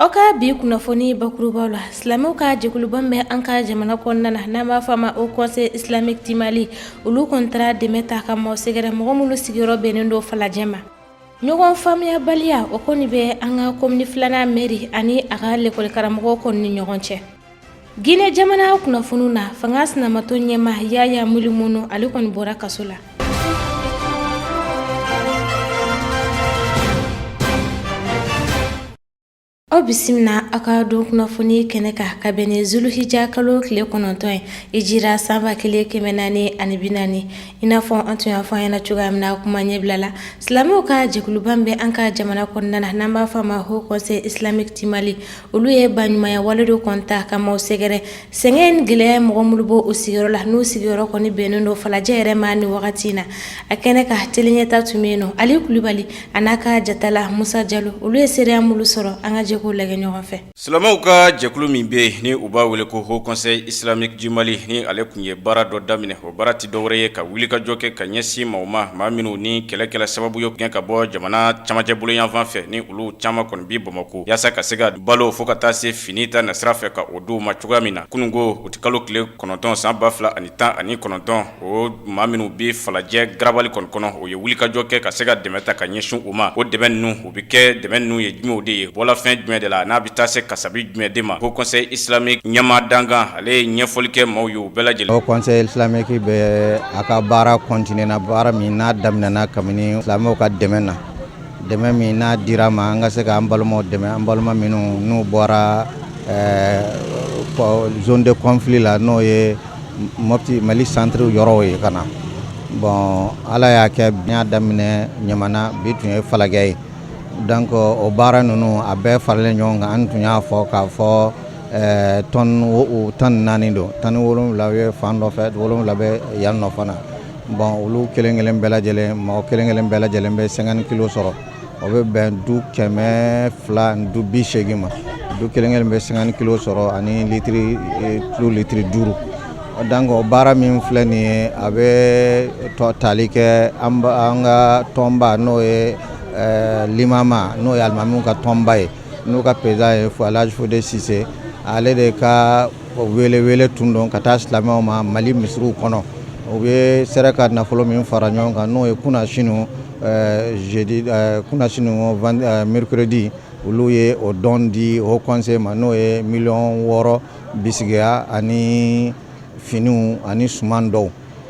aw ka bi kunnafoni bakurubaw la silamɛw ka jɛkuluba min bɛ an ka jamana kɔnɔna na n'an b'a fɔ a ma haut conseil islamique du Mali olu kɔni taara dɛmɛ ta ka maaw sɛgɛrɛ mɔgɔ minnu sigiyɔrɔ bɛnnen don falajɛ ma ɲɔgɔn faamuyabaliya o kɔni bɛ an ka kɔmini filanan mɛri ani a ka lɛkɔlikaramɔgɔw kɔni ni ɲɔgɔn cɛ Gine jamana kunnafoniw na fanga sinamatɔn ɲɛmaa yaya milimono ale kɔni bɔra kaso la aw bisimila aw ka don kunnafoni kɛnɛ kan ka bɛn ni zuluhija kalo tile kɔnɔntɔn ye hijira san ba kelen kɛmɛ naani ani bi naani i n'a fɔ an tun y'a fɔ an ɲɛna cogoya min na kuma ɲɛbila la silamɛw ka jɛkuluba min bɛ an ka jamana kɔnɔna na n'an b'a fɔ a ma haut conseil islamique du Mali olu ye baɲumanya wale dɔ kɔni ta ka maaw sɛgɛrɛ sɛgɛn ni gɛlɛya mɔgɔ minnu bɔ u sigiyɔrɔ la n'u sigiyɔrɔ kɔni bɛnnen don falajɛ yɛrɛ ma nin wagati in na a kɛnɛ kan tele ɲɛta tun bɛ yen nɔ ali kulibali a n'a ka jatala musa jalo olu ye seereya minnu sɔrɔ an ka jɛ k'o lajɛ ɲɔgɔn fɛ silamɛw ka jɛkulu min bɛ yen ni u b'a wele ko haut conseil islamique du Mali ni ale tun ye baara dɔ daminɛ o baara tɛ dɔwɛrɛ ye ka wulikajɔ kɛ ka ɲɛsin maaw ma maa minnu ni kɛlɛ kɛlɛ sababu y'u gɛn ka bɔ jamana camancɛ bolo yanfan fɛ ni olu caman kɔni bi bamakɔ yaasa ka se ka balo fo ka taa se fini ta nasira fɛ ka o d'u ma cogoya min na kununko uti kalo tile kɔnɔntɔn san ba fila ani tan ani kɔnɔntɔn o maa minnu bɛ falajɛ garabali kɔni kɔnɔ u ye wulikajɔ kɛ ka se ka dɛmɛ ta ka ɲɛsin u ma o dɛmɛ ninnu O bɛ kɛ dɛmɛ ninnu ye jumɛnw de ye bɔla fɛn jumɛn de la n'a bɛ taa se kasabi jumɛn de ma haut conseil islamique ɲɛmaa dankan ale ye ɲɛfɔli kɛ maaw ye u bɛɛ lajɛlen haut conseil islamique bɛ a ka baara continuer na baara min n'a daminɛna kabini silamɛw ka dɛmɛ na dɛmɛ min n'a dira a ma an ka se k'an balimaw dɛmɛ an balima minnu n'u bɔra zone de conflit la n'o ye Mopti Mali centre yɔrɔw ye ka na bon ala y'a kɛ an y'a daminɛ ɲamana bi tun ye falajɛ ye donc o baara ninnu a bɛɛ faralen ɲɔgɔn kan an tun y'a fɔ k'a fɔ tɔni tan ni naani don tɔni wolowula bɛ fan dɔ fɛ wolowula bɛ yan nɔ fana bon olu kelenkelen bɛɛ lajɛlen mɔgɔ kelenkelen bɛɛ lajɛlen bɛ cinquante kilo sɔrɔ o bɛ bɛn du kɛmɛ fila ni du bi segin ma du kelenkelen bɛ cinquante kilo sɔrɔ ani tulu litiri duuru donc o baara min filɛ nin ye a bɛ tali kɛ an ka tɔnba n'o ye limama n'o ye alimamiw ka tɔnba ye n'o ka peresidan ye alaji fode sise ale de ka O wele wele tun don ka taa silamɛw ma mali misiriw kɔnɔ u bɛɛ sera ka nafolo min fara ɲɔgɔn kan n'o ye kunasini kunasini mercredi olu ye o don di Haut Conseil ma n'o ye miliyɔn wɔɔrɔ bisigiya ani finiw ani suman dɔw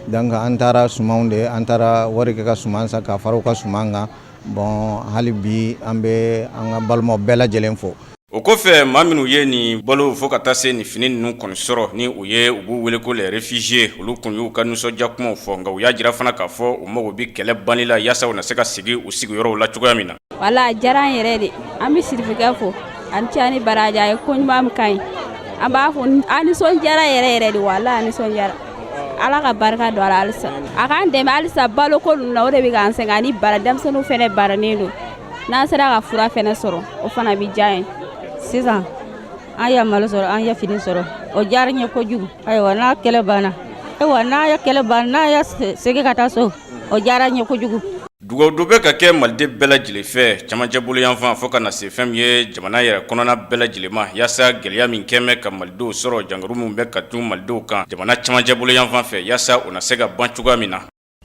donc an taara suman de an taara wari kɛ ka suman san ka fara u ka suman kan bon hali bi an bɛ an ka balimaw bɛɛ lajɛlen fo o kɔfɛ maa minnu ye nin balo fo ka taa se nin fini ninnu kɔni sɔrɔ ni u ye u b'u wele ko les réfugiés olu tun y'u ka nisɔndiya kumaw fɔ nka u y'a jira fana k'a fɔ u mago bɛ kɛlɛ banni la yaasa u na se ka segin u sigiyɔrɔw la cogoya min na. wala a diyara an yɛrɛ de an bɛ Sirifikɛ fo ani cɛ ani baraji a ye ko ɲuman min ka ɲi an b'a fɔ an nisɔndiyara yɛrɛ yɛrɛ de wala a nisɔndiyara ala ka barika don a la halisa a k'an dɛmɛ halisa baloko ninnu na o de bɛ k'an sɛgɛn ani bara denmisɛnninw fana bananen don n'an sera ka fura fana sɔrɔ o fana bɛ diya ye sisan an ye malo sɔrɔ an ye fini sɔrɔ o diyara n ye kojugu ayiwa n'a kɛlɛ banna ayiwa n'a ye kɛlɛ banna n'a ye segin ka taa so o diyara n ye kojugu dugawu dɔ bɛ ka kɛ maliden bɛɛ lajɛlen fɛ camancɛ boloyanfan fo ka na se fɛn min ye jamana yɛrɛ kɔnɔna bɛɛ lajɛlen ma yaasa gɛlɛya min kɔni bɛ ka malidenw sɔrɔ jankaro min bɛ ka don malidenw kan jamana camancɛ boloyanfan fɛ yaasa o na se ka ban cogoya min na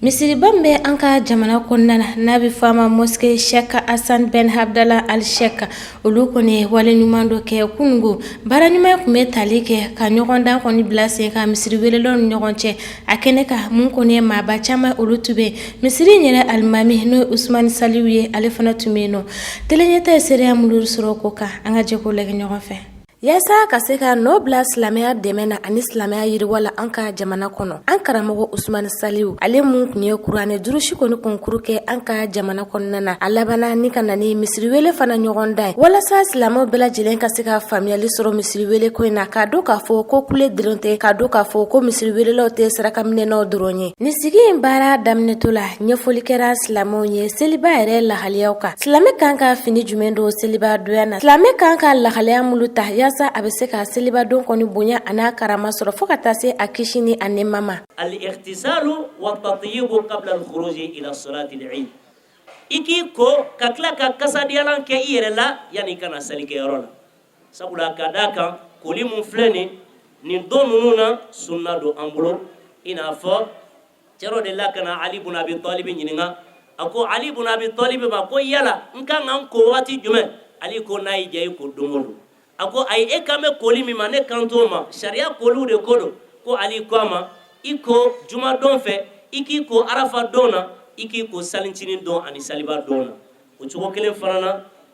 Misiriba in bɛ an ka jamana kɔnɔna na n'a bɛ fɔ a ma mosquée Cheikh Hassan Ben Abdallah Al Sheikh olu kɔni ye wale ɲuman dɔ kɛ kunungo baara ɲuman tun bɛ tali kɛ ka ɲɔgɔndan kɔni bila sen kan misiriwelelaw ni ɲɔgɔn cɛ a kɛnɛ kan mun kɔni ye maaba caman olu tun bɛ misiri in yɛrɛ alimami n'o ye usmani saliwu ye ale fana tun bɛ yen nɔ tele Ɲɛta ye seereya minnu sɔrɔ ko kan an ka jɛ k'o lajɛ ɲɔgɔn fɛ Yaasa ka se ka nɔ bila silamɛya dɛmɛ na ani silamɛya yiriwa la an ka jamana kɔnɔ an karamɔgɔ usmani saliwu ale min tun ye kuranɛ durusi kɔni kɔnkuru kɛ an ka jamana kɔnɔna na a labanna ni ka na ni misiriwele fana ɲɔgɔndan ye walasa silamɛw bɛɛ lajɛlen ka se ka faamuyali sɔrɔ misiriwele ko in na k'a dɔn k'a fɔ ko kule dɔrɔn tɛ k'a dɔn k'a fɔ ko misiriwelelaw tɛ sarakaminɛnaw dɔrɔn ye nin sigi in baara daminɛtɔ la ɲɛfɔli kɛra silamɛw ye seliba yɛrɛ lahaliyaw kan silamɛ kan ka fini jumɛn don seliba donya na Silamɛ kan ka lahalaya minnu ta yaasa a bɛ se ka selibadon kɔni bonya a n'a karama sɔrɔ fo ka taa se a kisi ni a nɛɛma ma al-ightisalu wa tatayibu qabla al-khuruji ila salati al-eid i k'i ko ka tila ka kasadiyalan kɛ i yɛrɛ la yani i ka na salikɛyɔrɔ la sabula ka d'a kan koli min filɛ nin nin don ninnu na sunna don an bolo i n'a fɔ cɛ dɔ delila ka na ali bun abi talibi ɲininka a ko ali bun abi talibi ma ko yala n ka kan ka n ko waati jumɛn ali ko n'a y'i diya i ko don o don a ko ayi e kan bɛ koli min ma ne kan t'o ma sariya koliw de ko don ko ali ko a ma i ko jumadon fɛ i k'i ko arafa don na i k'i ko salincinin don ani saliba don na o cogo kelen fana na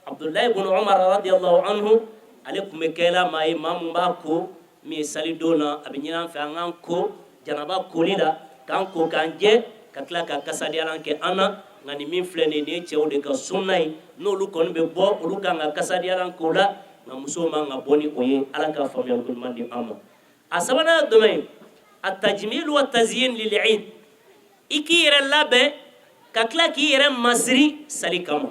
abudulayi bun umar radiyallahu anhu ale tun bɛ kɛla maa ye maa min b'i ko min ye salidon na a bɛ ɲini an fɛ an k'an ko janaba koli la k'an ko k'an jɛ ka tila ka kasadiyalan kɛ an na nka nin min filɛ nin ye nin ye cɛw de ka sunna ye n'olu kɔni bɛ bɔ olu kan ka kasadiyalan k'o la nka musow man ka bɔ ni o ye ala ka faamuya ɲuman di an ma a sabanan ye jumɛn ye a tajimilu wa taziyin lil eid i k'i yɛrɛ labɛn ka tila k'i yɛrɛ masiri sali kama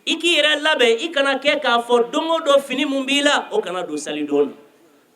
i k'i yɛrɛ labɛn i kana kɛ k'a fɔ don o don fini min b'i la o kana don salidon na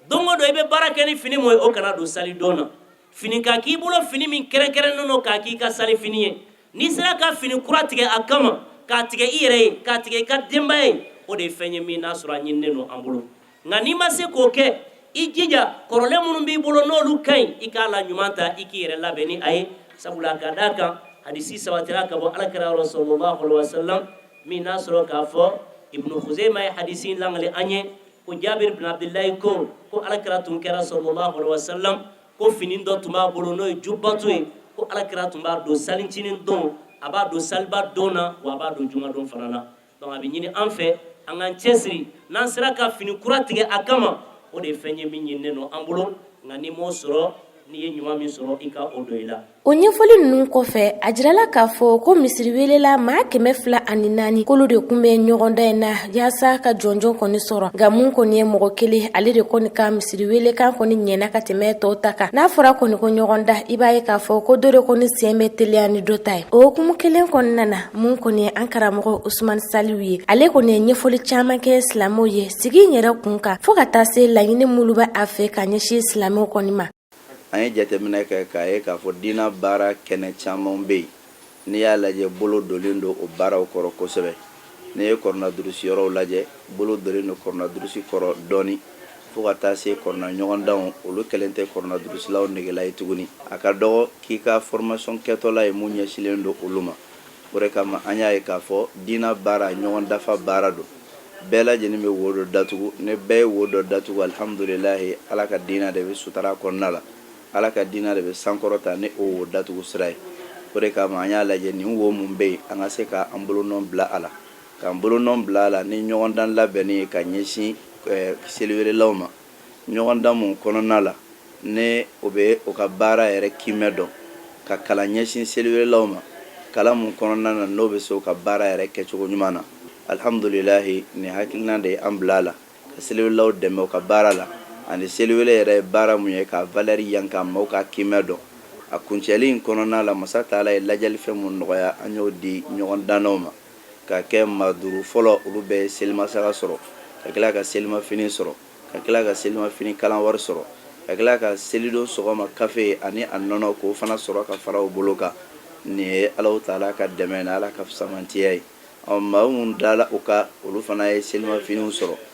don o don i bɛ baara kɛ ni fini min ye o kana don salidon na fini ka k'i bolo fini min kɛrɛnkɛrɛnnen don k'a k'i ka salifini ye n'i sera ka fini kura tigɛ a kama k'a tigɛ i yɛrɛ ye k'a tigɛ i ka denbaya ye o de ye fɛn ye min n'a sɔrɔ a ɲininnen don an bolo nka n'i ma se k'o kɛ i jija kɔrɔlen minnu b'i bolo n'olu ka ɲi i k'a la ɲuman ta i k'i yɛrɛ labɛn ni a ye sabula ka d'a kan hadisi sabatira ka bɔ alakira yɔrɔ sallallahu alaihi wasallam min n'a sɔrɔ k'a fɔ ibnu kuzeyma ye hadisi in langali an ye ko jabir bin abdullahi ko ko alakira tun kɛra sallallahu alaihi wasallam ko fini dɔ tun b'a bolo n'o ye jubato ye ko alakira tun b'a don salincinin don a b'a don saliba don na wa a b'a don jumadon fana na donc a bɛ ɲini an fɛ an k'an cɛsiri n'an sera ka fini kura tigɛ a kama o de ye fɛn ye min ɲininen don an bolo nka n'i m'o sɔrɔ n'i ye ɲuman min sɔrɔ i ka o don i la o ɲɛfɔli ninnu kɔfɛ a jirala k'a fɔ ko misiri welela maa kɛmɛ fila ani naani k'olu de kun bɛ ɲɔgɔndan in na yaasa ka jɔnjɔn kɔni sɔrɔ nka mun kɔni ye mɔgɔ kelen ale de kɔni ka misiri welekan kɔni ɲɛna ka tɛmɛ tɔw ta kan n'a fɔra kɔni ko ɲɔgɔndan i b'a ye k'a fɔ ko dɔ de kɔni sen bɛ teliya ni dɔ ta ye o hukumu kelen kɔnɔna na Mun kɔni ye an karamɔgɔ Usumani Saliw ye, ale kɔni ye ɲɛfɔli caman kɛ silamɛw ye sigi in yɛrɛ kun kan, fo ka taa se laɲini minnu bɛ a fɛ ka ɲɛsin silamɛw kɔni ma. An ye jateminɛ kɛ k'a ye k'a fɔ diinɛ baara kɛnɛ caman bɛ yen, n'i y'a lajɛ bolo donlen don o baaraw kɔrɔ kosɛbɛ. N'i ye kuranɛ durusi yɔrɔw lajɛ, bolo donlen don kuranɛ durusi kɔrɔ dɔɔni. fo ka taa se kuranɛ ɲɔgɔndanw olu kɛlen tɛ kuranɛ durusilaw negela ye tuguni a ka dɔgɔ k'i ka formation kɛtɔla ye mun ɲɛsinlen don olu ma o de kama an y'a ye k'a fɔ diinɛ baara ɲɔgɔn dafa baara don bɛɛ lajɛlen bɛ wo dɔ datugu ni bɛɛ ye wo dɔ datugu alihamdulilayi ala ka diinɛ de bɛ sutara kɔnɔna la ala ka diinɛ de bɛ sankɔrɔta ni o wo datugu sira ye o de kama an y'a lajɛ nin wo min bɛ yen an ka se k'an bolonɔ bila a la K'an bolonɔ bila a la ni ɲɔgɔndan labɛnni ye ka ɲɛsin seliwelelaw ma ɲɔgɔndan min kɔnɔna la ni o bɛ o ka baara yɛrɛ kimɛ dɔn ka kalan ɲɛsin seliwelelaw ma kalan min kɔnɔna na n'o bɛ se o ka baara yɛrɛ kɛcogo ɲuman na alihamdulilayi nin hakilina de ye an bila a la ka seliwelelaw dɛmɛ u ka baara la ani seliwele yɛrɛ ye baara min ye k'a valeur yanka maaw k'a kimɛ dɔn a kuncɛli in kɔnɔna la masa taala ye ladiyali fɛn minnu nɔgɔya an y'o di ɲɔgɔndannaw ma ka kɛ maa duuru fɔlɔ olu bɛɛ ye selimasaga sɔrɔ ka tila ka selimafini sɔrɔ ka tila ka selimafini kalan wari sɔrɔ ka tila ka selidon sɔgɔma kafe ani a nɔnɔ k'o fana sɔrɔ ka fara o bolo kan nin ye alahu taala ka dɛmɛ n'ala ka fisamantiya ye ɔ maa minnu dala o kan olu fana ye selimafiniw sɔrɔ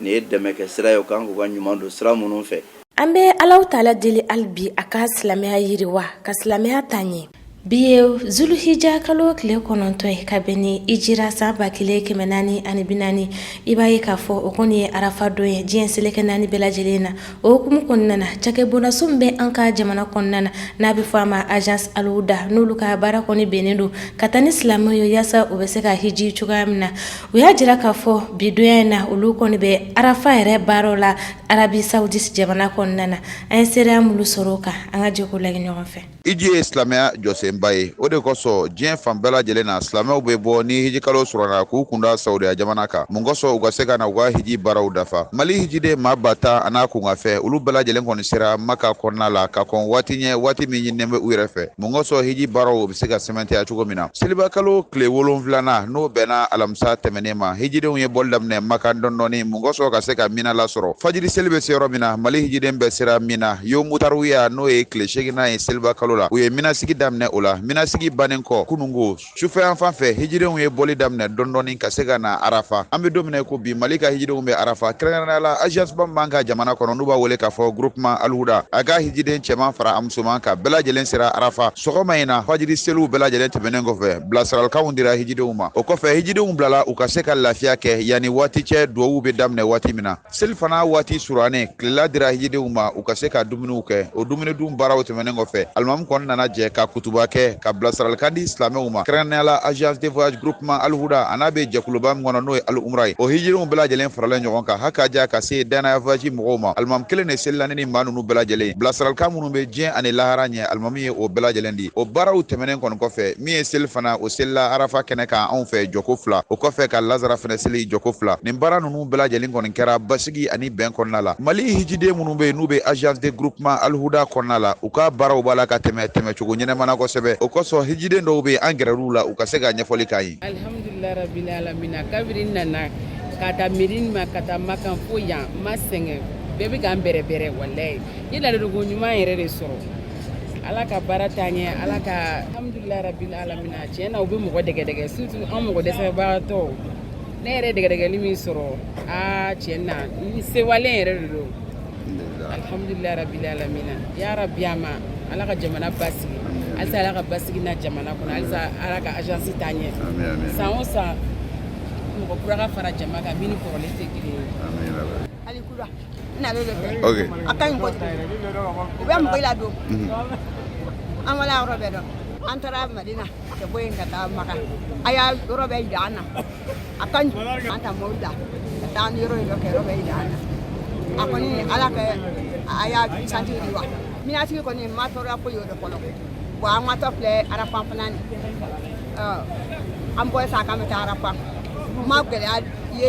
Nin ye dɛmɛ kɛ sira ye u kan k'u ka ɲuman don sira minnu fɛ An bɛ Alahu taala deli hali bi a ka silamɛya yiriwa ka silamɛya taa ɲɛ. Bi ye Zuluhija kalo tile kɔnɔntɔn ye ka bɛn ni Hijira san ba kelen kɛmɛ naani ani bi naani, i b'a ye k'a fɔ o kɔni ye arafa don ye diɲɛ seleke naani bɛɛ lajɛlen na. o hukumu kɔnɔna na cakɛbondaso min bɛ an ka jamana kɔnɔna na n'a bɛ fɔ a ma agence Aluhuda n'olu ka baara kɔni bɛnnen don ka taa ni silamɛw ye yaasa u bɛ se ka hiji cogoya min na u y'a jira k'a fɔ bi donya in na olu kɔni bɛ arafa yɛrɛ baaraw la Arabie Saoudite jamana kɔnɔna na an ye seereya minnu sɔrɔ o kan an ka jɛ k'o lajɛ ɲɔgɔn fɛ. hiji ye silamɛya jɔsenba ye o de kosɔn diɲɛ fan bɛɛ lajɛlen na silamɛw bɛ bɔ ni hijikalo surana k'u kunda saudiya jamana kan mun kosɔn u ka se ka na u ka hiji baaraw dafa mali hijiden maa ba tan an'a kunkanfɛn olu bɛɛ lajɛlen kɔni sera maka kɔnɔna la ka kɔn waati ɲɛ waati min ɲininen bɛ u yɛrɛ fɛ mun kosɔn hiji baaraw bɛ se ka sɛmɛntiya cogo min na selibakalo tile wolonfilana n'o bɛnna alamisa tɛmɛnen ma hijidenw ye bɔli daminɛ maka dɔndɔni mun kosɔn ka se ka mina lasɔrɔ fajiri seli bɛ se yɔrɔ min na mali hijiden bɛɛ sera mina yomu tarwiya n'o ye tile seginnan ye selibakalo la u ye minasigi daminɛ o la minasigi bannen kɔ kunungo sufɛ yanfan fɛ hijidenw ye bɔli daminɛ dɔndɔni ka se ka na arafa an bɛ don min i ko bi mali ka hijidenw bɛ arafa kɛrɛnkɛrɛnnenya la agence ba min b'an ka jamana kɔnɔ n'u b'a wele k'a fɔ groupement alhuda a ka hijiden cɛman fara a musoman kan bɛɛ lajɛlen sera arafa sɔgɔma in na fajiri seliw bɛɛ lajɛlen tɛmɛnen kɔfɛ bilasiralikanw dira hijidenw ma o kɔfɛ hijidenw bilala u ka se ka lafiya kɛ yanni waati cɛ duwawuw bɛ daminɛ waati min na selifana waati surannen tilela dira hijidenw ma u ka se ka dumuniw kɛ o dumuni dun baaraw tɛmɛnen kɔfɛ alimamu kɔni nana jɛ ka kutuba kɛ ka bilasiralikan di silamɛw ma kɛrɛnkɛrɛnnenya la agence de voyage groupement alhuda an'a be jɛkuluba min kɔnɔ n'o ye al umra ye o hijidenw bɛɛ lajɛlen faralen ɲɔgɔn kan hakaja ka se danaya voyage mɔgɔw ma alimamu kelen de selila ni nin maa nunu bɛɛ lajɛlen ye bilasiralikan minnu be diɲɛ ani lahara ɲɛ alimamu ye o bɛɛ lajɛlen di o baaraw tɛmɛnen kɔni kɔfɛ min ye selifana o selila arafa kɛnɛ kan anw fɛ jɔko fila o kɔfɛ ka lazara fɛnɛ seli jɔko fila nin baara nunu bɛɛ lajɛlen kɔni kɛra basigi ani bɛn kɔnɔna la mali hijiden minnu bɛ yen n'u bɛ agence de groupement alihuda kɔnɔna la u ka baaraw b'a la ka tɛmɛ tɛmɛcogo ɲɛnama na kosɛbɛ o kosɔn hijiden dɔw bɛ yen an gɛrɛr'u la u ka se ka ɲɛfɔli k'an ye alhamdulila rabila alamina kabiri nana ka ta madina ka ta makan fo yan ma sɛgɛn bɛɛ bɛ k'an bɛrɛbɛrɛ walayi i ladonko ɲuman yɛrɛ de sɔrɔ ala ka baara taa ɲɛ ala ka alhamdulila rabila alamina tiɲɛ na u bɛ mɔgɔ dɛgɛdɛgɛ surtout an mɔgɔ dɛsɛbagatɔw ne yɛrɛ dɛgɛdɛgɛli min sɔrɔ aa tiɲɛ na n sewalen yɛrɛ de don alhamdulilayi rabili alamina ya rabi a ma ala ka jamana basigi halisa ala ka basigi na jamana kɔnɔ halisa ala ka agence taa ɲɛ san o san mɔgɔ kura ka fara jama kan min ni kɔrɔlen tɛ kelen ye ok a ka ɲi koyi u bɛ mɔgɔ ladon an wala yɔrɔ bɛɛ dɔn an taara madina ka bɔ yen ka taa maka a y'a yɔrɔ bɛɛ jira an na a ka ɲi an ta mɔbili la ka taa an yɔrɔ yɔrɔ kɛ yɔrɔ bɛɛ jira an na a kɔni ala ka agence yiriwa mina sigi kɔni ma tɔɔrɔya ko y'o de kɔnɔ wa an watɔ filɛ arafan fana ni an bɔ sa k'an bɛ taa arafan ma gɛlɛya ye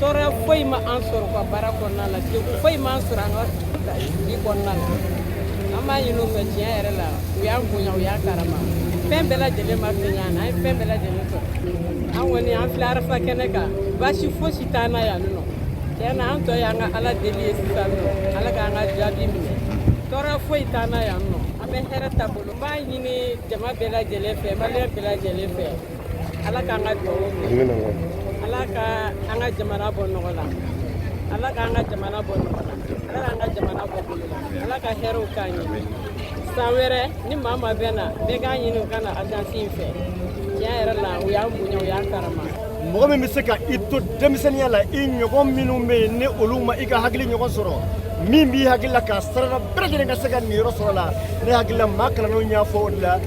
tɔɔrɔya foyi ma an sɔrɔ ka baara kɔnɔna la degun foyi ma an sɔrɔ an ka sigi kɔnɔna la an b'a ɲini u fɛ tiɲɛ yɛrɛ la u y'an bonya u y'an karama fɛn bɛɛ lajɛlen ma fɛn y'an na an ye fɛn bɛɛ lajɛlen sɔrɔ an kɔni an filɛ arafa kɛnɛ kan baasi fosi t'an na yan nɔ tiɲɛ na an tɔ y'an ka ala deli ye sisan nɔ ala k'an ka jaabi minɛ tɔɔrɔya foyi t'an na yan nɔ an bɛ hɛrɛ taabolo n b'a ɲini jama bɛɛ lajɛlen fɛ maliyɛn bɛɛ lajɛlen fɛ ala k'an ka dugawu ala ka an ka jamana bɔ nɔgɔ la ala k'an ka jamana bɔ nɔgɔ la ala k'an ka jamana bɔ bolo la ala ka hɛrɛw k'an ye san wɛrɛ ni maa ma bɛ na bɛɛ k'a ɲini u ka na agence in fɛ tiɲɛ yɛrɛ la u y'an bonya u y'an karama mɔgɔ min bɛ se ka i to denmisɛnninya la i ɲɔgɔn minnu bɛ yen ni olu ma i ka hakili ɲɔgɔn sɔrɔ min b'i hakili la k'a sarada bɛɛ lajɛlen ka se ka niyɔrɔ sɔrɔ la ne hakili la maa kalannenw y'a fɔ o de la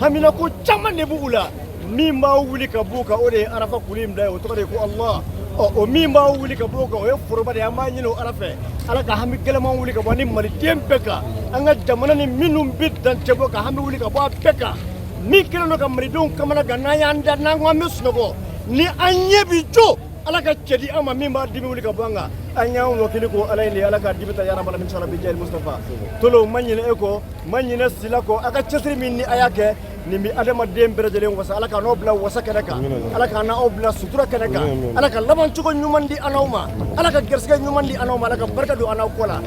haminako caman de b'u la min b'a wuli ka b'u kan o de ye arafa kulu in bila ye o tɔgɔ de ye ko allah ɔ o min b'a wuli ka b'o kan o ye foroba de ye an b'a ɲini o ala fɛ ala ka hami gɛlɛman wuli ka bɔ an ni maliden bɛɛ kan an ka jamana ni minnu bɛ dancɛ bɔ ka hami wuli ka bɔ a bɛɛ kan min kɛlen don ka malidenw kamana gan n'an y'an da n'an ko an bɛ sunɔgɔ ni an ɲɛ bi jo ala ka cɛ di an ma min b'a dimi wuli ka bɔ an kan an y'an wakili ko ala in de ye ala ka dibi ta ya rabal alamin inshallah bi jahil mustapha tolo ma ɲinɛ e kɔ ma ɲinɛ sila kɔ a ka cɛsiri min ni a y'a kɛ nin bɛ adamaden bɛɛ lajɛlen wasa ala k'an n'aw bila wasa kɛnɛ kan ala k'an n'aw bila sutura kɛnɛ kan ala ka labancogo ɲuman di an n'aw ma ala ka garisɛgɛ ɲuman di an n'aw ma ala ka barika don an n'aw kɔ la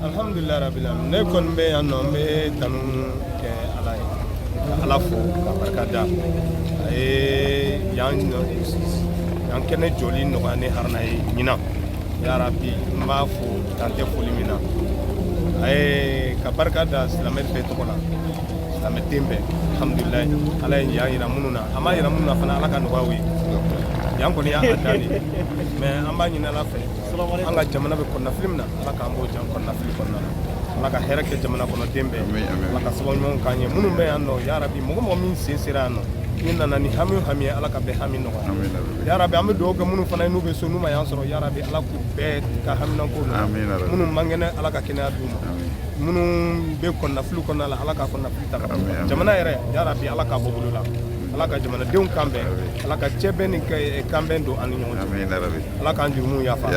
alhamdulilayi rabila ne kɔni bɛ yan nɔ n bɛ tanu kɛ ala ye ka ala fo ka barika da a ye yan yan kɛnɛ jɔli nɔgɔya ne haruna ye ɲinan yarabi n b'a fo dan tɛ foli min na a ye ka barika da silamɛ bɛɛ tɔgɔ la silamɛ den bɛɛ alhamdulilayi ala ye yan yira minnu na a m'a yira minnu na fana ala k'a nɔgɔya u ye yan kɔni y'a dan de ye mɛ an b'a ɲini ala fɛ an ka jamana bɛ kɔnɔnafili min na ala k'an b'o jan kɔnɔnafili kɔnɔna na ala ka hɛrɛ kɛ jamana kɔnɔ den bɛɛ ala ka sababu ɲumanw k'an ye minnu bɛ yan nɔ yarabi mɔgɔ mɔgɔ min sen sera yan nɔ n'i nana ni hami o hami ye ala ka bɛɛ hami nɔgɔya yarabi an bɛ dugawu kɛ minnu fana ye n'u bɛ so n'u ma yan sɔrɔ yarabi ala k'u bɛɛ ka haminanko nɔgɔya minnu man kɛnɛ ala ka kɛnɛya d'u ma minnu bɛ kɔnɔnafili kɔnɔna la ala ka kɔnɔnafili ta jamana yɛrɛ yarabi ala k'a bɔ bolo la ala ka jamanadenw kan bɛn ala ka cɛbɛn ni kanbɛn don an ni ɲɔgɔn cɛ ala k'an jurumu yafa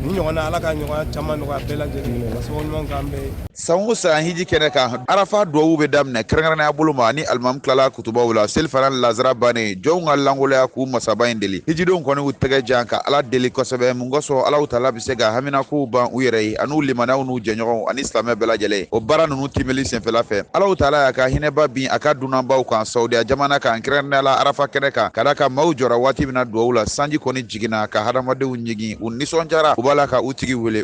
ni ɲɔgɔn na ala k'a ɲɔgɔn caman nɔgɔya bɛɛ lajɛlen sababu ɲuman k'an bɛɛ san o san hiji kɛnɛ kan arafa duwawu bɛ daminɛ kɛrɛnkɛrɛnnenya bolo ma ni alimami tilala kutubaw la selifana lazara bannen jɔnw ka langoloya k'u masaba in deli hijidenw kɔni u tɛgɛ jan ka ala deli kosɛbɛ mun kosɔn alahu taala bɛ se ka haminakow ban u yɛrɛ ye an'u limanaw n'u jɛɲɔgɔnw ani silamɛ bɛɛ lajɛlen ye o baara ninnu tiimɛli senfɛla fɛ alahu taala y'a ka hinɛba bin a ka dunanbaw kan saudiya jamana kan kɛrɛnkɛrɛnnenya la arafa kɛnɛ kan ka da ka maaw jɔra waati min na duwawu la sanji kɔni jiginna ka hadamadenw ɲigin u nisɔndiyara u b'a la ka u tigi wele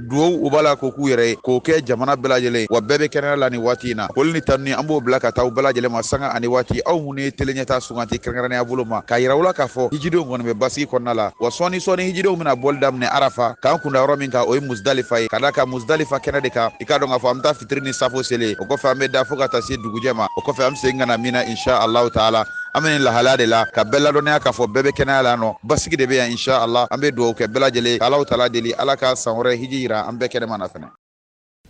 duwawu u b'a la k'o k'u yɛrɛ ye k'o kɛ jamana bɛɛ lajɛlen wa bɛɛ bɛ kɛnɛya la nin waati in na foli ni tanuni an b'o bila ka taa u bɛɛ lajɛlen ma sanga ani waati aw minnu ye teleɲɛta suganti kɛrɛnkɛrɛnnenya bolo ma k'a yira aw la k'a fɔ hijidenw kɔni bɛ basigi kɔnɔna la wa sɔɔni sɔɔni hijidenw bɛna bɔli daminɛ arafa k'an kunda yɔrɔ min kan o ye musdalifa ye ka da ka musdalifa kɛnɛ de kan i k'a dɔn k'a fɔ an bɛ taa fitiri ni safo seli o kɔfɛ an bɛ da fo ka taa se dugujɛ ma o kɔfɛ an bɛ segin ka na mina insha allahu taala an bɛ nin lahalaya de la ka bɛɛ ladɔnniya k'a fɔ bɛɛ bɛ kɛnɛya la nɔ basigi de bɛ yan insha Allah an bɛ dugawu kɛ bɛɛ lajɛlen ka Alahu taala deli Ala ka san wɛrɛ hiji jira an bɛɛ kɛnɛma na fana.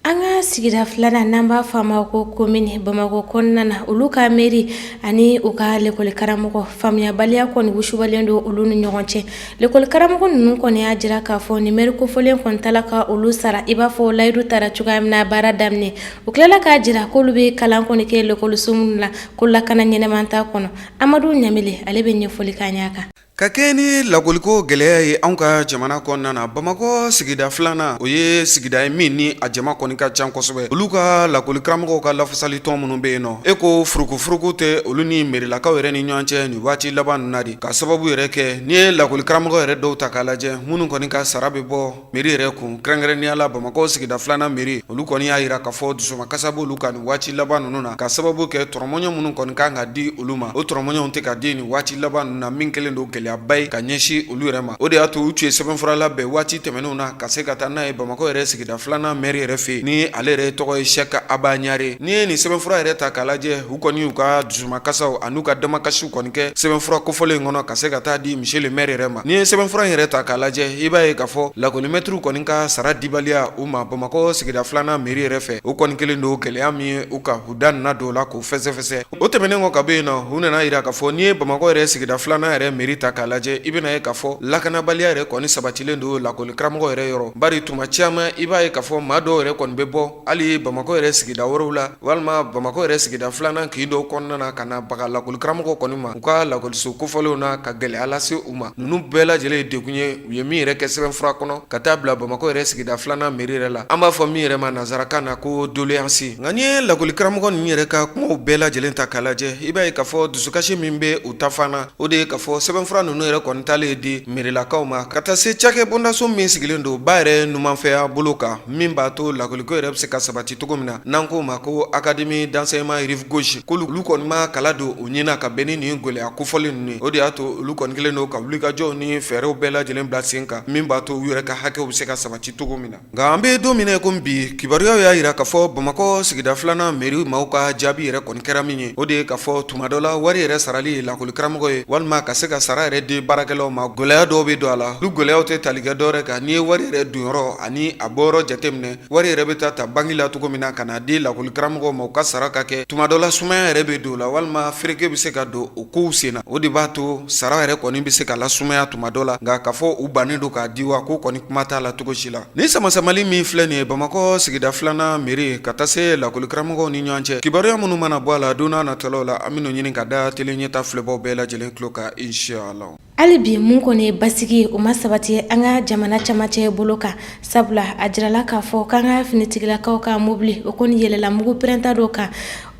An ka sigida filanan n'an b'a fɔ a ma ko komini bamakɔ kɔnɔna na olu ka meri ani u ka lekɔlikaramɔgɔ faamuyabaliya kɔni wusubalen don olu ni ɲɔgɔn cɛ lekɔlikaramɔgɔ ninnu kɔni y'a jira k'a fɔ ni meri kofɔlen kɔni t'a la ka olu sara i b'a fɔ layidu tara cogoya min na baara daminɛ u tilala k'a jira k'olu bɛ kalan kɔni kɛ lakɔliso minnu na ko lakana ɲɛnama t'a kɔnɔ amadu ɲamile ale bɛ ɲɛfɔli k'an y'a kan Ka kɛɲɛ ni lakɔliko gɛlɛya ye anw ka jamana kɔnɔna na, Bamakɔ sigida filanan, o ye sigida ye min ni a jama kɔni ka ca kosɛbɛ. Olu ka lakɔli karamɔgɔw ka lafasali tɔn minnu bɛ yen nɔ, e ko furukufuruku tɛ olu ni merilakaw yɛrɛ ni ɲɔgɔn cɛ nin waati laban ninnu na de, ka sababu yɛrɛ kɛ n'i ye lakɔli karamɔgɔ yɛrɛ dɔw ta k'a lajɛ minnu kɔni ka sara bɛ bɔ meri yɛrɛ kun kɛrɛnkɛrɛnnenya la bamakɔ sigida filanan meri olu kɔni y'a jira k'a fɔ dusumakasi b'olu kan nin waati laban ninnu na ka sababu kɛ tɔrɔmɔɲɔ minnu kɔni kan ka di olu ma o tɔrɔmɔɲɔw tɛ ka di nin waati laban ninnu na min kɛlen don gɛlɛyaba ye ka ɲɛsin olu yɛrɛ ma o de y'a to u tun ye sɛbɛnfura labɛn waati tɛmɛnenw na ka se ka taa n'a ye bamakɔ yɛrɛ sigida filanan meri yɛrɛ fɛ yen ni ale yɛrɛ tɔgɔ ye sɛki aba ɲare n'i ye nin sɛbɛnfura yɛrɛ ta k'a lajɛ u kɔni y'u ka dusumakasaw ani u ka damakasiw kɔni kɛ sɛbɛnfura kofɔlen in kɔnɔ ka se ka taa di monsieur le maire yɛrɛ ma n'i ye sɛbɛnfura in yɛrɛ ta k'a lajɛ i b'a ye k'a fɔ lakɔlimɛtiriw kɔni ka sara dibaliya u ma bamakɔ sigida filanan mɛri yɛrɛ fɛ o kɔni kɛlen don gɛlɛya min ye u ka u da nana don o la k'o fɛsɛfɛsɛ o tɛmɛnen kɔ ka bɔ yen na u nan'a jira k'a fɔ n'i ye bamakɔ yɛrɛ sigida filanan yɛrɛ mɛri ta k'a lajɛ i bɛn'a ye k'a fɔ lakanabaliya yɛrɛ kɔni sabatilen don lakɔli karamɔgɔ yɛrɛ yɔrɔ bari tuma caman i b'a ye k'a fɔ maa dɔw yɛrɛ kɔni bɛ bɔ hali bamakɔ yɛrɛ sigida wɛrɛw la Walima bamakɔ yɛrɛ sigida filanan kin dɔ kɔnɔna na ka na baga lakɔlikaramɔgɔ kɔni ma u ka lakɔliso kofɔlenw na ka gɛlɛya lase u ma ninnu bɛɛ lajɛlen ye degun ye u ye min yɛrɛ kɛ sɛbɛnfura kɔnɔ ka taa bila bamakɔ yɛrɛ sigida filanan mɛri yɛrɛ la an b'a fɔ min yɛrɛ ma nansarakan na ko doléance nka n'i ye lakɔlikaramɔgɔ ninnu yɛrɛ ka kumaw bɛɛ lajɛlen ta k'a lajɛ i b'a ye k'a fɔ dusukasi min bɛ u ta fan na o de ye k'a fɔ sɛbɛnfura ninnu yɛrɛ kɔni taalen di mɛrilakaw ma ka taa se cakɛ bondaso min sigilen don ba yɛrɛ numanfɛya bolo kan min b'a to lakɔliko yɛrɛ bɛ se ka sabati cogo min na n'an k'o ma ko académie d'enseignement rive gauche ko olu kɔni ma kala don u ɲɛna ka bɛn ni nin gɛlɛya kofɔlen ninnu ye o de y'a to olu kɔni kɛlen don ka wulikajɔw ni fɛɛrɛw bɛɛ lajɛlen bila sen kan min b'a to u yɛrɛ ka hakɛw bɛ se ka sabati cogo min na nka an bɛ don min na i komi bi kibaruyaw y'a jira k'a fɔ bamakɔ sigida filanan mɛri maaw ka jaabi yɛrɛ kɔni kɛra min ye o de ye k'a fɔ tuma dɔ la wari yɛrɛ sarali lakɔlikaramɔgɔ ye walima ka se ka sara yɛrɛ di baarakɛlaw ma gɛlɛya dɔw bɛ don a la olu gɛlɛyaw tɛ tali kɛ dɔwɛrɛ kan n'i ye wari yɛrɛ donyɔrɔ ani a bɔyɔrɔ jateminɛ Wari yɛrɛ bɛ taa ta banki la cogo min na ka na di lakɔlikaramɔgɔw ma u ka sara ka kɛ tuma dɔ la sumaya yɛrɛ bɛ don o la walima fereke bɛ se ka don o kow sen na o de b'a to sara yɛrɛ kɔni bɛ se ka lasumaya tuma dɔ la nka k'a fɔ u bannen don k'a di wa ko kɔni kuma t'a la cogo si la nin samasamali min filɛ nin ye bamakɔ sigida filanan mɛri ka taa se lakɔlikaramɔgɔw ni ɲɔgɔn cɛ kibaruya minnu mana bɔ a la don nataw la an bɛn'o ɲini ka da tele ɲɛta filɛbaw bɛɛ lajɛlen tulo kan inshallah Hali bi mun kɔni basigi o ma sabati an ka jamana camancɛ bolo kan sabula a jirala k'a fɔ k'an ka finitigilakaw ka mobili o kɔni yɛlɛla mugu pɛrɛnta dɔ kan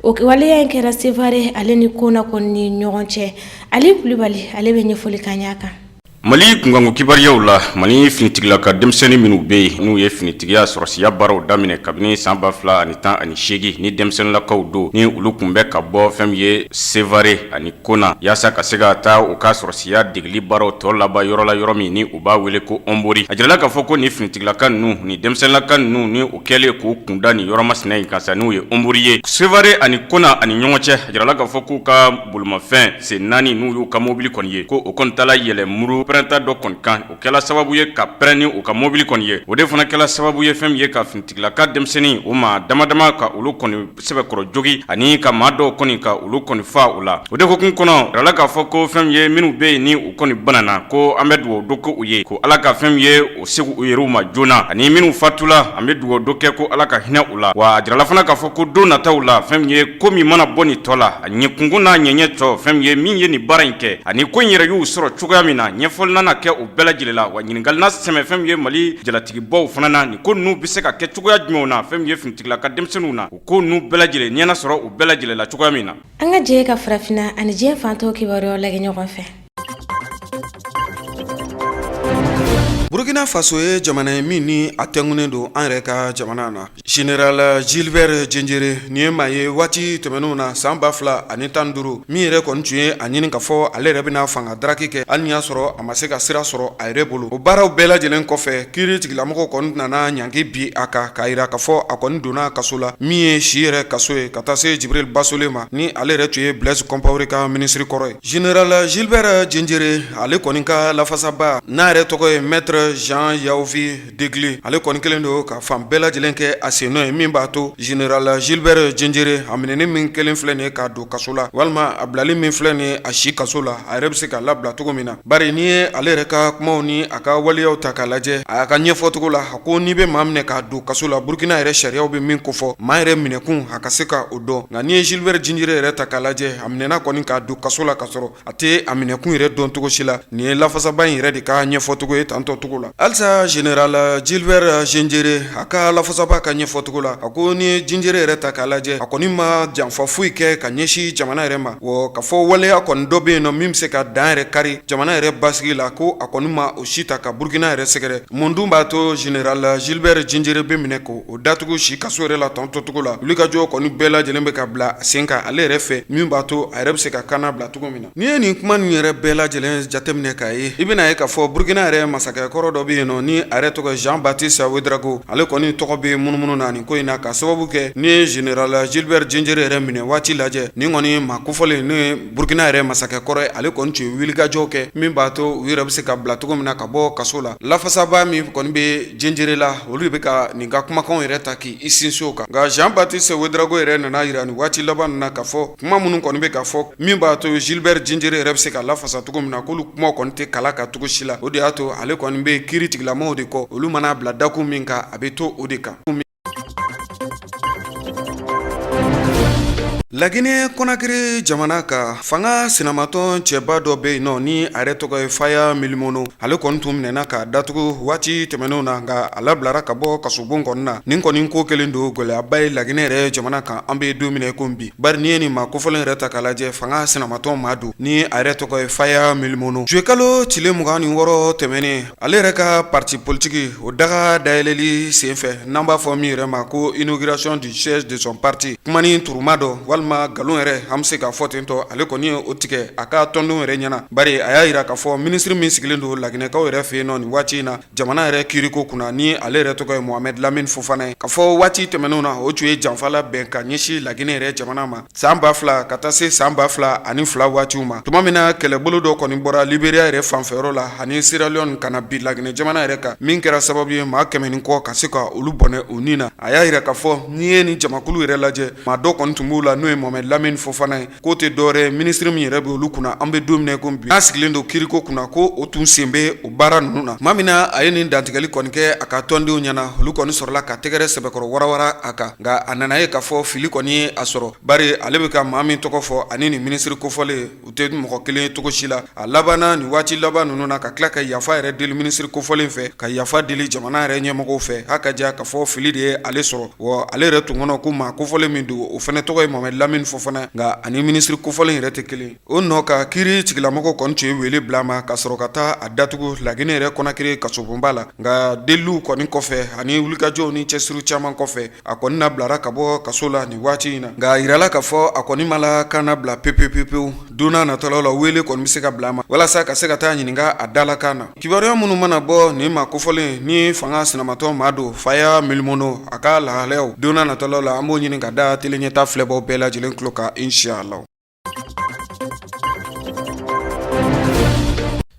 o waleya in kɛra sevare ale ni kona kɔni ni ɲɔgɔn cɛ ali kulibali ale bɛ ɲɛfɔli k'an y'a kan mali kunkanko kibaruyaw la mali finitigilaka denmisɛnnin minnu bɛ yen n'u ye finitigiya sɔrɔsiya baaraw daminɛ kabini san ba fila ani tan ani seegin ni denmisɛnninlakaw don ni olu tun bɛ ka bɔ fɛn min ye sevare ani Kona yaasa ka se ka taa u ka sɔrɔsiya degeli baaraw tɔ laban yɔrɔ la yɔrɔ min ni u b'a wele ko ɔnbori a jirala k'a fɔ ko nin finitigilaka ninnu ni denmisɛnninlaka ninnu ni u kɛlen k'u kunda nin yɔrɔ masina in kan sa n'u ye ɔnbori ye sevare ani kona ani ɲɔgɔn cɛ a jirala k'a fɔ k'u ka bolomafɛn sen naani n'u y'u ka mobili kɔni ye ko o kɔni taala yɛlɛ mugu pɛrɛnta dɔ kɔni kan o kɛla sababu ye ka pɛrɛn ni u ka mobili kɔni ye o de fana kɛla sababu ye fɛn min ye ka finitigilaka denmisɛnninw maa damadama ka olu kɔni sɛbɛkɔrɔ jogi ani ka maa dɔw kɔni ka olu kɔni faa u la o de hukumu kɔnɔ jirala k'a fɔ ko fɛn min ye minnu bɛ yen ni u kɔni banana ko an bɛ dugawu don ko u ye ko ala ka fɛn min ye u segin u yɛrɛw ma joona ani minnu fatula an bɛ dugawu don kɛ ko ala ka hinɛ u la wa a jirala fana k'a fɔ ko don nataw la fɛn min ye ko min mana bɔ nin tɔ la a ɲɛkunkun n'a ɲɛɲɛ tɔ fɛn min ye min ye nin baara in kɛ ani ko in yɛrɛ y'u sɔrɔ cogoya min na ɲɛfɔli nana kɛ o bɛɛ lajɛlen la wa ɲininkali na sɛmɛ fɛn min ye mali jalatigibaw fana na nin ko ninnu bɛ se ka kɛ cogoya jumɛnw na fɛn min ye fini tigila ka denmisɛnninw na o ko ninnu bɛɛ lajɛlen ɲɛna sɔrɔ u bɛɛ lajɛlen la cogoya min na an ka jɛ ka farafinna ani diɲɛ fan tɔw kibaruyaw lagɛ ɲɔgɔn fɛ burkina faso ye jamana ye min ni a tɛngunen don an yɛrɛ ka jamana na général gilbert diendéré nin ye maa ye waati tɛmɛnenw na san ba fila ani tan duuru min yɛrɛ kɔni tun ye a ɲini ka fɔ ale yɛrɛ bɛna fanga daraki kɛ hali ni y'a sɔrɔ a ma se ka sira sɔrɔ a yɛrɛ bolo o baaraw bɛɛ lajɛlen kɔfɛ kiiri tigɛlamɔgɔw kɔni nana ɲangi bin a kan k'a yira k'a fɔ a kɔni donna kaso la min ye si yɛrɛ kaso ye ka taa se djibril bassolé ma ni ale yɛrɛ tun ye blaise compaoré ka minisiri kɔrɔ ye général gilbert diendéré ale kɔni ka lafasaba n'a yɛrɛ tɔgɔ ye maître jean yaovi Degli ale kɔni kelen don ka fan bɛɛ lajɛlen kɛ a sennɔ ye min b'a to général gilbert diendéré a minɛni min kelen filɛ nin ye k'a don kaso la walima a bilali min filɛ nin ye a si kaso la a yɛrɛ bɛ se k'a labila cogo min na bari n'i ye ale yɛrɛ ka kumaw ni a ka waleyaw ta k'a lajɛ a y'a ka ɲɛfɔcogo la a ko n'i bɛ maa minɛ k'a don kaso la burukina yɛrɛ sariyaw bɛ min kofɔ maa yɛrɛ minɛkun a ka se ka o dɔn nka n'i ye gilbert diendéré yɛrɛ ta k'a lajɛ a minɛna kɔni k'a don kaso la ka sɔrɔ A tɛ a minɛkun yɛrɛ dɔn cogo si la nin ye lafasaba in yɛrɛ de ka ɲɛfɔcogo ye tan tɔ cogo la halisa général gilbert diendéré a ka lafasaba ka ɲɛfɔcogo la a ko n'i ye diendéré yɛrɛ ta k'a lajɛ a kɔni ma janfa foyi kɛ ka ɲɛsin jamana yɛrɛ ma wa ka fɔ waleya kɔni dɔ bɛ yen nɔ min bɛ se ka dan yɛrɛ kari jamana yɛrɛ basigi la ko a kɔni ma o si ta ka burukina yɛrɛ sɛgɛrɛ mun dun b'a to général gilbert diendéré bɛ minɛ ko O datugu si kaso yɛrɛ la tan tɔ cogo la wulikajɔ kɔni bɛɛ lajɛlen bɛ ka bila sen kan ale yɛrɛ fɛ min b'a to a yɛrɛ bɛ se ka ka na bila cogo min na n'i ye nin kuma nin yɛrɛ bɛɛ lajɛlen jateminɛ k'a ye i bɛna ye k'a fɔ burukina yɛrɛ masakɛkɔrɔ dɔ bɛ yen nɔ ni a yɛrɛ tɔgɔ jean-baptiste ouédraogo ale kɔni tɔgɔ bɛ munumunu na nin ko in na ka sababu kɛ n'i ye général gilbert diendéré yɛrɛ minɛ waati lajɛ nin kɔni maa kofɔlen n'o ye Burukina yɛrɛ masakɛ kɔrɔ ye ale kɔni tun ye wulikajɔw kɛ min b'a to u yɛrɛ bɛ se ka bila cogo min na ka bɔ kaso la lafasaba min kɔni bɛ diendéré la olu de bɛ ka nin ka kumakanw yɛrɛ ta k'i sinsin o kan nka jean-baptiste ouédraogo yɛrɛ nana a yira nin waati laban ninnu na ka fɔ kuma minnu kɔni bɛ ka fɔ min b'a to gilbert diendéré yɛrɛ bɛ se ka lafasa cogo min na k'olu kumaw kɔni tɛ kala ka cogo si la o de y'a to ale kɔni bɛ kiiri tigɛlamɔgɔw de kɔ olu mana a bila dakun min kan a bɛ to o de kan Laginɛ Conakry jamana ka fanga sinamatɔn cɛba dɔ bɛ yen nɔ ni a yɛrɛ tɔgɔ ye Faya Milimono ale kɔni tun minɛna k'a datugu waati tɛmɛnenw na nka a labilara ka bɔ kasobon kɔni na nin kɔni ko kɛlen don gɛlɛyaba ye laginɛ yɛrɛ jamana kan an bɛ don min na i ko bi bari n'i ye nin maa kofɔlen yɛrɛ ta k'a lajɛ fanga sinamatɔn maa don ni a yɛrɛ tɔgɔ ye Faya Milimono juwe kalo tile mugan ni wɔɔrɔ tɛmɛnen Ale yɛrɛ ka parti politique o daga dayɛlɛli senfɛ n'an b'a fɔ min yɛrɛ ma ko inauguration du siège de son parti kumanin turuma dɔ walima nkalon yɛrɛ an bɛ se k'a fɔ ten tɔ ale kɔni ye o tigɛ a ka tɔndenw yɛrɛ ɲɛna bari a y'a jira k'a fɔ minisiri min sigilen don laginɛkaw yɛrɛ fɛ yen nɔ nin waati in na jamana yɛrɛ kiiriko kunna ni ale yɛrɛ tɔgɔ ye Mohamed Lamine Fofana ye k'a fɔ waati tɛmɛnenw na o tun ye janfa labɛn ka ɲɛsin laginɛ yɛrɛ jamana ma San ba fila ka taa se san ba fila ani fila waatiw ma tuma min na kɛlɛbolo dɔ kɔni bɔra Liberia yɛrɛ fanfɛyɔrɔ la ani Sierra Leone ka na bin laginɛ jamana yɛrɛ kan min kɛra sababu ye maa kɛmɛ ni kɔ ka se ka olu bɔnɛ u ni na a y'a jira k'a fɔ n'i ye nin jamakulu yɛrɛ lajɛ maa dɔ kɔni tun b'u la n'o ye Mohamed Lamine Fofana ye k'o tɛ dɔwɛrɛ minisiri min yɛrɛ bɛ olu kunna an bɛ don min na i ko bi n'a sigilen don kiiriko kunna ko o tun sen bɛ o baara ninnu na tuma min na a ye nin dantigɛli kɔni kɛ a ka tɔndenw ɲɛna olu kɔni sɔrɔla ka tɛgɛrɛ sɛbɛkɔrɔ warawara a kan Nka a nana ye k'a fɔ fili kɔni ye a sɔrɔ bari ale bɛ ka maa min tɔgɔ fɔ ani nin minisiri kofɔlen u tɛ mɔgɔ kelen ye cogo si la a labanna nin waati laban ninnu na ka tila ka yafa yɛrɛ deli minisiri kofɔlen fɛ ka yafa deli jamana yɛrɛ ɲɛmɔgɔw fɛ a k'a jɛya k'a fɔ fili de ye ale sɔrɔ wa ale yɛrɛ tun kɔnɔ ko maa kofɔlen min don o fana tɔgɔ ye Mohamed Lamine Fofana nka ani minisiri kofɔlen yɛrɛ tɛ kelen O nɔ kan kiiri tigilamɔgɔw kɔni tun ye wele bila a ma ka sɔrɔ ka taa a datugu laginɛ yɛrɛ Conakry kasobonba la nka deliliw kɔni kɔfɛ ani wulikajɔw ni cɛsiri caman kɔfɛ a kɔni labilara ka bɔ kaso la nin waati in na nka a jirala k'a fɔ a kɔni ma la kaana na bila p-p-p-pewu don natɔla la wele kɔni bɛ se ka bila a ma walasa ka se ka taa ɲininka a dalakan na kibaruya minnu mana bɔ nin maa kofɔlen ni fanga sinamatɔn maa don Faya Milimono a ka lahalayaw don natɔlaw la an b'o ɲini k'a da tele ɲɛta filɛbaw bɛɛ lajɛlen tulo kan inshallah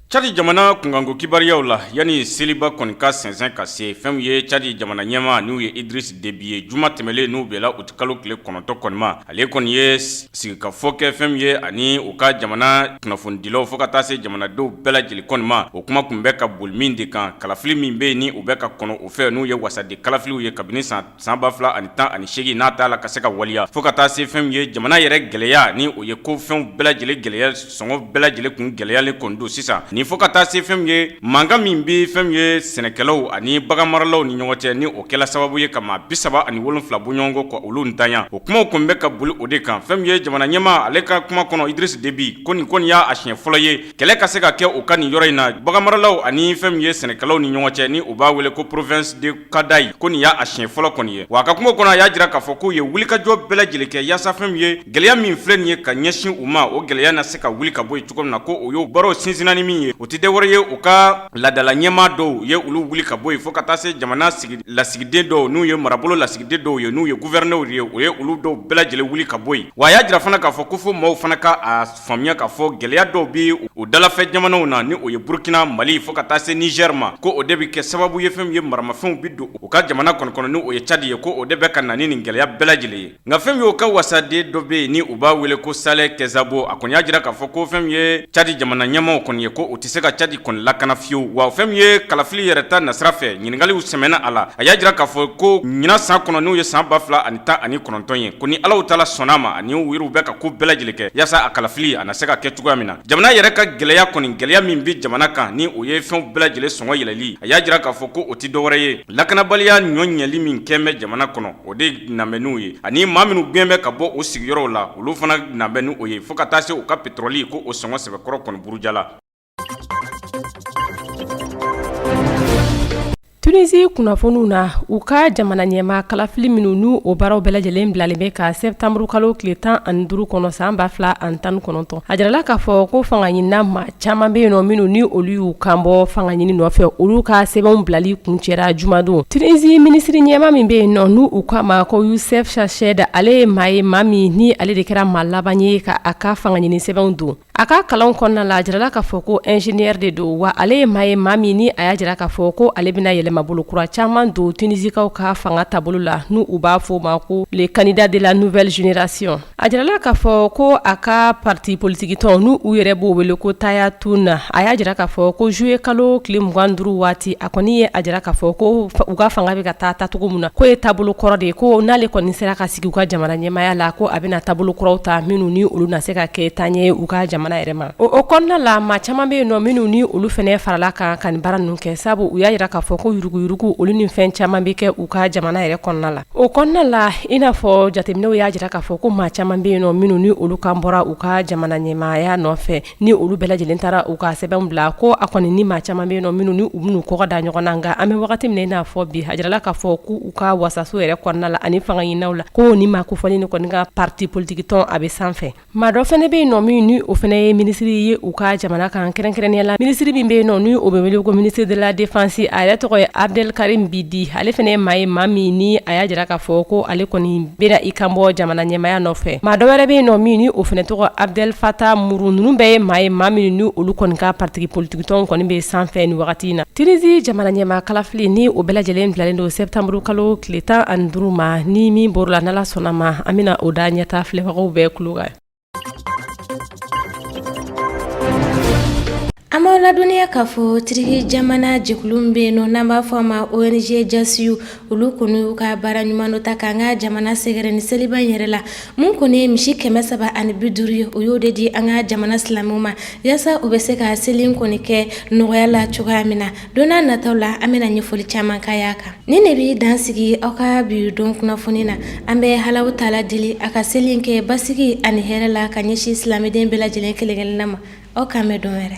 Cadi jamana kunkanko kibaruyaw la yanni seliba kɔni ka sɛnsɛn ka se fɛn ye cadi jamana ɲɛmaa n'o ye Idriss Déby ye juma tɛmɛnlen n'o bɛnna uti kalo tile kɔnɔntɔn kɔni ma ale kɔni ye sigikafɔ kɛ fɛn ye ani u ka jamana kunnafonidilaw fo ka taa se jamanadenw bɛɛ lajɛlen kɔni ma o kuma kun bɛ ka boli min de kan kalafili min bɛ yen ni u bɛ k'a kɔnɔ u fɛ n'o ye wasaden kalafiliw ye kabini san san ba fila ani tan ani segin n'a t'a la ka se ka waleya fo ka taa se fɛn ye jamana yɛrɛ gɛlɛya ni o ye ko fɛnw bɛɛ lajɛlen gɛlɛya sɔngɔ bɛɛ lajɛlen kun gɛlɛyalen kɔni don sisan nin fo ka taa se fɛn ye mankan min bɛ fɛn ye sɛnɛkɛlaw ani baganmaralaw ni ɲɔgɔn cɛ ni o kɛla sababu ye ka maa bi saba ani wolonwula bɔɲɔgɔnko ka olu ntanya o kumaw kun bɛ ka boli o de kan fɛn ye jamana ɲɛmaa ale ka kuma kɔnɔ Idriss Déby ko nin kɔni y'a siɲɛ fɔlɔ ye kɛlɛ ka se ka kɛ u ka nin yɔrɔ in na baganmaralaw ani fɛn ye sɛnɛkɛlaw ni ɲɔgɔn cɛ ni u b'a wele ko province de kadayi ko nin y'a siɲɛ fɔlɔ kɔni ye wa a ka kuma kɔnɔ a y'a jira k'a fɔ k'u ye wulikajɔ bɛɛ lajɛlen kɛ yaasa fɛn min ye gɛlɛya min filɛ nin ye ka ɲɛsin u ma o gɛlɛya na se ka wuli ka bɔ yen cogo min na ko o y'o baaraw sinsinna ni min ye o tɛ dɔwɛrɛ ye u ka laadala ɲɛmaa dɔw ye olu wuli ka bɔ yen fo ka taa se jamana sigi lasigiden dɔw n'u ye marabolo lasigiden dɔw ye n'u ye guwɛrɛnɛriw ye o ye olu dɔw bɛɛ lajɛlen wuli ka bɔ yen wa a y'a jira fana k'a fɔ ko fo maaw fana ka a Faamuya k'a fɔ gɛlɛya dɔw bɛ u dalafɛ jamanaw na ni o ye Burkina, Mali fo ka taa se Niger ma ko o de bɛ kɛ sababu ye fɛn ye maramafɛnw bɛ don u ka jamana kɔni kɔnɔ ni o ye Tchad ye ko o de bɛ ka na ni nin gɛlɛya bɛɛ lajɛlen ye nka fɛn min ye o ka wasaden dɔ bɛ yen ni u b'a wele ko Saleh Kebzabo a kɔni y'a jira k'a fɔ ko fɛn min ye Tchad jamana ɲɛmaaw kɔni ye ko o tɛ tɛ se ka Tchad kɔni lakana fiyewu wa fɛn min ye kalafili yɛrɛ ta nasira fɛ ɲininkaliw sɛmɛna a la a y'a jira k'a fɔ ko ɲinan san kɔnɔ n'u ye san ba fila ani tan ani kɔnɔntɔn ye ko ni ala taala sɔnna a ma ani u yɛrɛw bɛ ka ko bɛɛ lajɛlen kɛ yaasa a kalafili a na se ka kɛ cogoya min na jamana yɛrɛ ka gɛlɛya kɔni gɛlɛya min bɛ jamana kan ni o ye fɛnw bɛɛ lajɛlen sɔngɔ yɛlɛli a y'a jira k'a fɔ ko o tɛ dɔwɛrɛ ye lakanabaliya ɲɔ ɲɛli min kɛ bɛ jamana kɔnɔ o de na bɛ n'u ye ani maa minnu gɛn bɛ ka bɔ u sigiyɔrɔw la olu fana na bɛ n'o ye fo ka taa se u ka petoroli ko o sɔngɔ sɛbɛkɔrɔ kɔni burujala tunisi kunnafoniw na u ka jamana ɲɛmaa kalafili minnu ni o baaraw bɛɛ lajɛlen bilalen bɛ ka sɛtanburu kalo tile tan ani duru kɔnɔ san ba fila ani tan kɔnɔntɔn a jirala k'a fɔ ko fangaɲinina maa caman bɛ yen nɔ minnu ni olu y'u kanbɔ fangaɲini nɔfɛ olu ka sɛbɛnw bilali kuncɛra jumadon tunisi minisiri ɲɛmaa min bɛ yen nɔ ni u k'a ma ko Youssef Chahed ale ye maa ye maa min ni ale de kɛra maa laban ye ka a ka fangaɲini sɛbɛnw don A ka kalanw kɔnɔna la a jirala k'a fɔ ko ingénieur de don wa ale ye maa ye maa min ni a y'a jira k'a fɔ ko ale bɛna yɛlɛmabolo kura caman don Tinisikaw ka fanga taabolo la n'u u b'a fɔ o ma ko le candidat de la nouvelle génération a jirala k'a fɔ ko a ka parti politique tɔn n'u u yɛrɛ b'o wele ko Tahya Tounes a y'a jira k'a fɔ ko juillet kalo tile mugan ni duuru waati a kɔni ye a jira k'a fɔ ko u ka fanga bɛ ka taa taacogo min na k'o ye taabolo kɔrɔ de ye ko n'ale kɔni sera ka sigi u ka jamana ɲɛmaaya la ko a bɛna taabolo kɔrɔw ta minnu ni olu na se ka kɛ taaɲɛ ye u ka jamana yɛrɛ ma o kɔnɔna la maa caman bɛ yen nɔ minnu ni olu fana farala kan ka nin baara ninnu kɛ sabu u y'a jira k'a fɔ ko yuruguyurugu olu ni fɛn caman bɛ kɛ u ka jamana yɛrɛ kɔnɔna la o kɔnɔna la i n'a fɔ jateminɛw y'a jira k'a fɔ ko maa caman bɛ yen nɔ minnu ni olu kan bɔra u ka jamana ɲɛmaaya nɔfɛ ni olu bɛɛ lajɛlen taara u ka sɛbɛnw bila ko a kɔni ni maa caman bɛ yen nɔ minnu ni u bɛn'u kɔgɔ da ɲɔgɔn na nka an bɛ wagati min na i n'a fɔ bi a jirala k'a fɔ k'u ka wasaso yɛrɛ kɔnɔna la ani fanga ɲininaw la ko nin maa kofɔlen nin kɔni ka pati politiki tɔn a bɛ sanfɛ maa dɔ fana bɛ yen nɔ min ni o fana ye minisiri ye u ka jamana kan kɛrɛnkɛrɛnnenya la minisiri min bɛ yen nɔ ni o bɛ wele ko ministre de la défense a yɛrɛ tɔgɔ ye Abdelkarim Zbidi ale fana ye maa ye maa min ni a y'a jira k'a fɔ ko ale kɔni bɛna i kan bɔ jamana ɲɛmaya nɔfɛ maa dɔ wɛrɛ bɛ yen nɔ min ni o fɛnɛ tɔgɔ Abdel Fattah Muru ninnu bɛɛ ye maa ye maa min ni olu kɔni ka pariti politikitɔn kɔni bɛ sanfɛ ni wagati in na Tunizi jamana ɲɛmaa kalafili ni o bɛɛ lajɛlen bilalen don sɛtanburukalo tile tan ani duuru ma ni min bɔra a la n'Ala sɔnna a ma an bɛna o da Ɲɛta filɛbagaw bɛɛ kulo kan An b'aw ladɔnniya k'a fɔ tiriki jamana jɛkulu bɛ yen nɔ n'an b'a fɔ a ma ONG Cansuyu olu kɔni y'u ka baara ɲuman dɔ ta k'an ka jamana sɛgɛrɛ ni seliba in yɛrɛ la mun kɔni ye misi kɛmɛ saba ani bi duuru ye u y'o de di an ka jamana silamɛw ma yaasa u bɛ se ka seli in kɔni kɛ nɔgɔya la cogoya min na Don n'a nataw la an bɛna ɲɛfɔli caman k'aw y'a kan nin de bɛ dan sigi aw ka bi don kunnafoni na an bɛ Alahu Taala deli a ka seli in kɛ basigi ani hɛrɛ la ka ɲɛsin silamɛden bɛɛ lajɛlen kelen-kelenna ma aw k'an bɛn don wɛrɛ